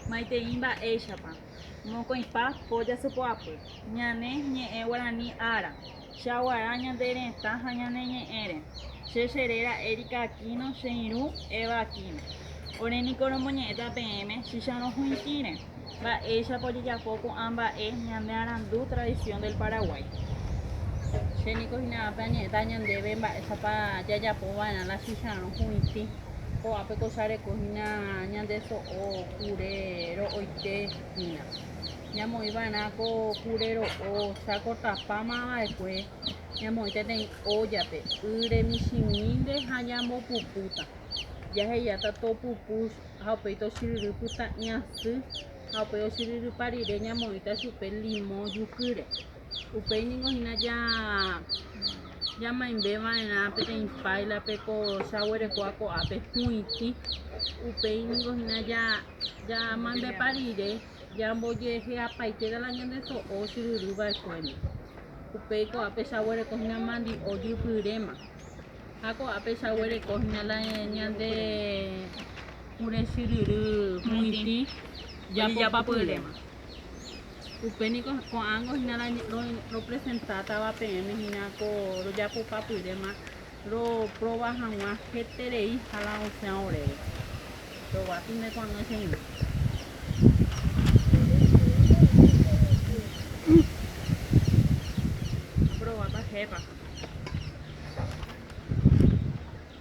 Maitei mba'éichapa mokõipa po jasypo'apy ñane ñe'ẽ guarani ára, chaguara ñande retã ha ñane ñe'ẽre. Che che réra Erika Aquino che irũ Eva Aquino. Ore niko romoñe'ẽta peẽme chicharõ huĩtĩre mba'éichapa ojejapo ko'ã mba'e ñande arandu tradición del Paraguay. Che niko hína ápe añe'ẽta ñandéve mba'éichapa jajapo va'erã la chicharõ huĩtĩ. Ko'ápe ko chareko hína ñande so'o kure ro'oite hína. Ñamoĩ va'erã ko kure ro'o cháko tapáma va'ekue ñamoĩ peteĩ óllape ýre michĩmínte ha ñambopupúta. Jahejáta topupu ha upéi tochiryry pyta'yasy ha upéi ochiryrypa rire ñamoĩta chupe limõ jukýre. Upéi ningo hína jamoñande va'erã peteĩ páilape ko jaguerekóva ko'ápe hu'itĩ. Upéi ningo hína jamoñandepa rire jambojeheapaite la ñande so'o ochyryry va'ekuére. Upéi ko'ápe jaguereko hína mandi'o jypyréma. Ha ko'ápe jaguereko hína la ñande kure chyryry hu'itĩ japopapyréma. Upe niko ko'ãngo hína ropresentáva peẽme hína ko rojapopapyréma roprova hag̃ua heterei hala osẽ oréve. Roguapy nde ko'ag̃a che irũ. Aprovápa jepa.